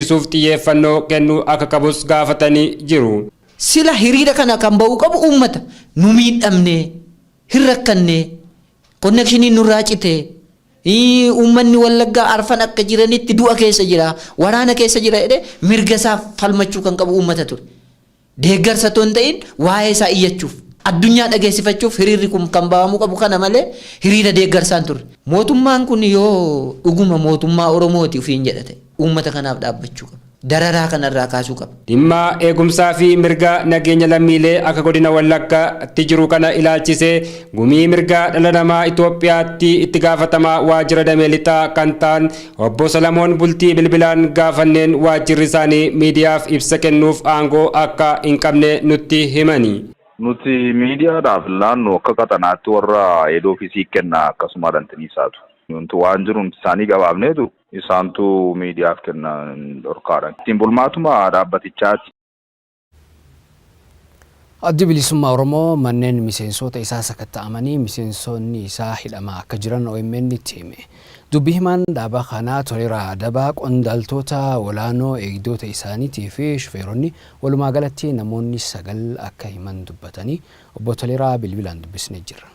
barsiisuuf xiyyeeffannoo kennuu akka qabus gaafatanii jiru. Sila hiriira kana kan ba'uu qabu uummata. Nu miidhamne, hin rakkanne, konnekshiniin nurraa cite, uummanni Wallaggaa arfan akka jiranitti du'a keessa jira, waraana keessa jira jedhee mirga isaa falmachuu kan qabu uummata ture. Deeggarsa otoo hin ta'iin waa'ee isaa iyyachuuf, addunyaa dhageessifachuuf hiriirri kun kan ba'amuu qabu kana malee hiriira deeggarsaa hin turre. Mootummaan kun yoo dhuguma mootummaa Oromooti ofiin jedha ta'e uummata kanaaf dhaabbachuu qaba. Dararaa kana irraa kaasuu qaba. Dhimma eegumsaa fi mirga nageenya lammiilee akka Godina Wallaggaatti jiru kana ilaalchisee Gumii Mirga Dhala Namaa Itoophiyaatti Itti Gaafatamaa Waajjira Damee Lixaa kan ta'an Obbo Salamoon Bultii bilbilaan gaafanneen waajjirri isaanii miidiyaaf ibsa kennuuf aangoo akka hin qabne nutti himani. Nuti miidiyaadhaaf laannu akka qaxanaatti warra head office kenna akkasumaadha intini isaatu. Nuti waan jiru nuti isaanii gabaafneetu isaantu miidiyaaf kenna dhorkaadhaan. Ittiin bulmaatuma dhaabbatichaati. Addi Bilisummaa Oromoo manneen miseensoota isaa sakatta'amanii miseensoonni isaa hidhamaa akka jiran OMNtti hime. Dubbi himaan dhaaba kanaa Toleeraa Adabaa qondaaltoota olaanoo eegdoota isaaniitii fi shufeeronni walumaa galatti namoonni sagal akka himan dubbatanii Obbo Toleeraa bilbilaan dubbisne jirra.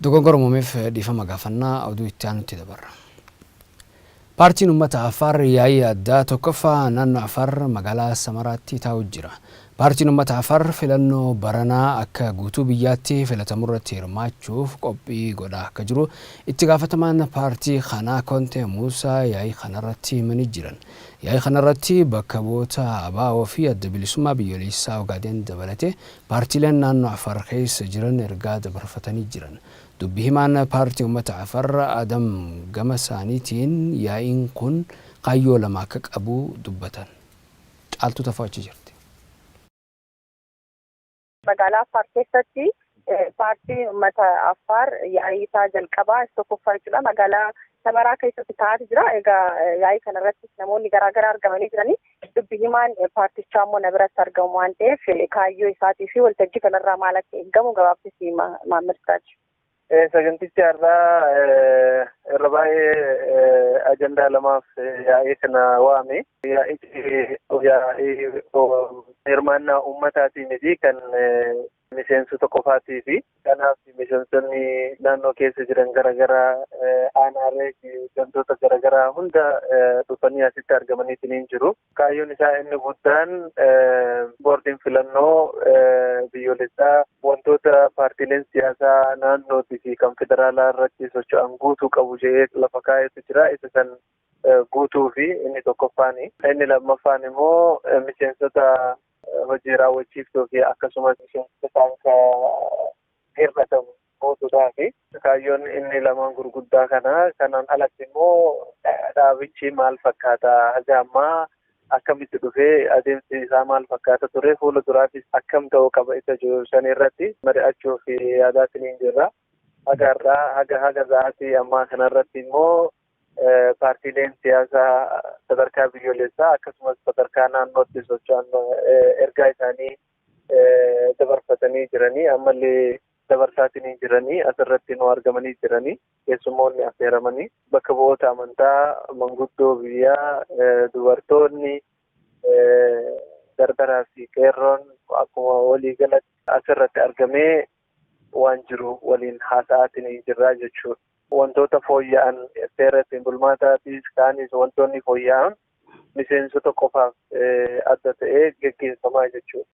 Dogongora uumameef dhiifama gaafannaa. Oduu itti aanutti dabarra. Paartiin Ummata Afaar Yaa'ii Addaa 1ffaa Naannoo Afaar Magaalaa Samaraatti taa'u jira. Paartiin Ummata Afaar filannoo baranaa akka guutuu biyyaatti filatamurratti hirmaachuuf qophii godhaa akka jiru itti gaafatamaan paartii kanaa Kontee Muusaa yaa'ii kanarratti himanii jiran. Yaa'ii kanarratti bakka bu'oota ABO fi Adda Bilisummaa Biyyoleessaa Ogaadeen dabalatee paartiileen naannoo Afaar keessa jiran ergaa dabarfatanii jiran. Dubbi himaan Paartii Ummata Afar Adam gama saaniitiin yaa'iin kun kaayyoo lama akka qabu dubbatan. Caaltuu Tafoo achi jirti. Magaalaa Affaar keessatti Paartiin Ummata Affaar yaa'ii isaa jalqabaa isa tokkoffaa jechuudha. Magaalaa Samaraa keessatti taa'aa jira. Egaa yaa'ii kanarratti namoonni garaagaraa argamanii jiranii. Dubbi himaan paartichaa immoo na biratti argamu waan ta'eef kaayyoo isaatii fi waltajjii kanarraa maal akka eegamu gabaabsisi Maammad Siraaj. Sagantichi har'aa irra baay'ee ajandaa lamaaf yaa'ee kana waame. Yaa'ichi yaa'ii hirmaannaa uummataatii miti kan miseensota qofaatii fi kanaaf miseensonni naannoo keessa jiran garaagaraa aanaalee fi gandoota garaagaraa hunda dhufanii asitti argamaniitiin hin jiru. Kaayyoon isaa inni guddaan boordiin filannoo biyyoolessaa wantoota paartiileen siyaasaa naannootii fi kan federaalaa irratti socho'an guutuu qabu jedhee lafa kaa'etu jira. Isa san guutuu fi inni tokkoffaani. Inni lammaffaan immoo miseensota hojii raawwachiiftuu fi akkasumas miseensa isaan ka hir'atamu guutuudhaa fi kaayyoon inni lamaan gurguddaa kana kanaan alatti immoo dhaabichi maal fakkaata haga ammaa akkamitti dhufee adeemsi isaa maal fakkaata ture fuula duraafis akkam ta'uu qaba isa jiru san irratti mari'achuu fi yaadaatiin hin jirra haga irraa haga haga za'aatii ammaa kanarratti immoo Paartiileen siyaasaa sadarkaa biyyoolessaa akkasumas sadarkaa naannootti socho'an ergaa isaanii dabarfatanii jiranii ammallee dabarsaatinii jiranii asirratti nu argamanii jiranii keessummoonni affeeramanii bakka bu'oota amantaa manguddoo biyyaa dubartoonni dardaraa fi qeerroon akkuma walii galatti asirratti argamee waan jiru waliin haasa'aatinii jirraa jechuudha. Wantoota fooyya'an seera ittiin bulmaataatis kaanis wantoonni fooyya'an miseensota qofaaf adda ta'ee geggeeffamaa jechuudha.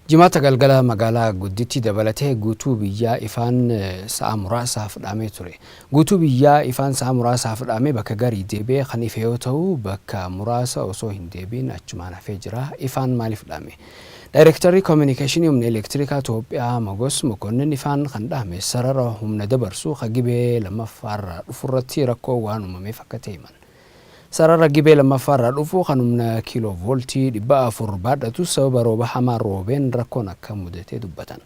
Jimaata galgala magaalaa gudditti dabalatee guutuu biyyaa ifaan sa'a muraasaaf dhaamee ture. Guutuu biyyaa ifaan sa'a muraasaaf dhaamee bakka garii deebi'ee kan ife yoo ta'u bakka muraasa osoo hin deebiin achumaan hafee jira. Ifaan maaliif dhaame? Daayirektarri Kominikeeshinii Humna Elektirikaa Itoophiyaa Mogos Mokonnin ifaan kan dhahame sarara humna dabarsu ka Gibee 2ffaa irraa dhufurratti rakkoon waan uumameef akka ta'e himan. Sarara Gibee 2ffaa irraa dhufu kan humna kiiloo vooltii 400 baadhatus sababa rooba hamaa roobeen rakkoon akka mudate dubbatan.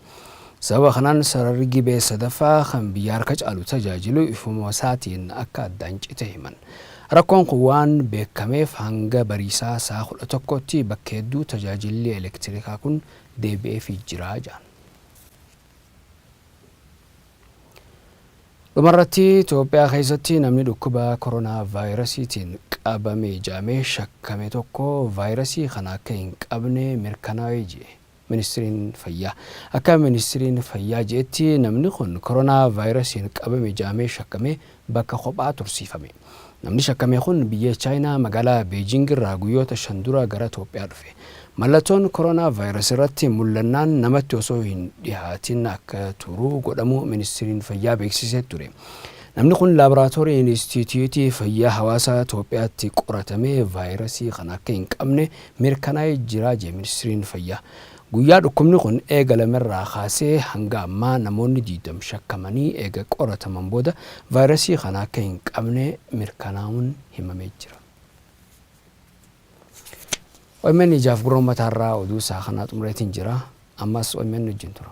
Sababa kanaan sararri Gibee sadaffaa kan biyya harka caalu tajaajilu ifumasaatiin akka addaan cite himan. Rakkoon kun waan beekameef hanga Bariisaa sa'a 11tti bakka hedduu tajaajilli elektirikaa kun deebi'eefii jira jedhan. Dhumarratti Itoophiyaa keessatti namni dhukkuba koronaa vaayirasiitiin qabame jedhamee shakkame tokko vaayirasii kana akka hin qabne mirkanaa'ee jie. Ministriin Fayyaa. Akka Ministriin Fayyaa je'etti namni kun Koronaa Vaayirasiin qabame ja'amee shakkamee bakka kophaa tursiifame. Namni shakkame kun biyya Chaayinaa magaalaa Beejiing irraa guyyoota shan dura gara Toophiyaa dhufe. Mallattoon Koronaa Vaayirasi irratti mullannaan namatti osoo hin dhihaatin akka turu godhamuu Ministriin Fayyaa beeksisee ture. Namni kun Laaboraatoorii Inistiitiyuutii Fayyaa Hawaasaa Toophiyaatti qoratamee vaayirasii kana akka hin qabne mirkanaa'ee jira jedhe Ministriin Fayyaa. Guyyaa dhukkubni kun eegalamerraa kaasee hanga ammaa namoonni 20 shakkamanii eega qorataman booda vaayrasii kana akka hin qabne mirkanaa'uun himamee jira. Omn ijaaf gurra ummataarraa oduu isaa kanaa xumureetiin jira. Ammas omn wajjin tura.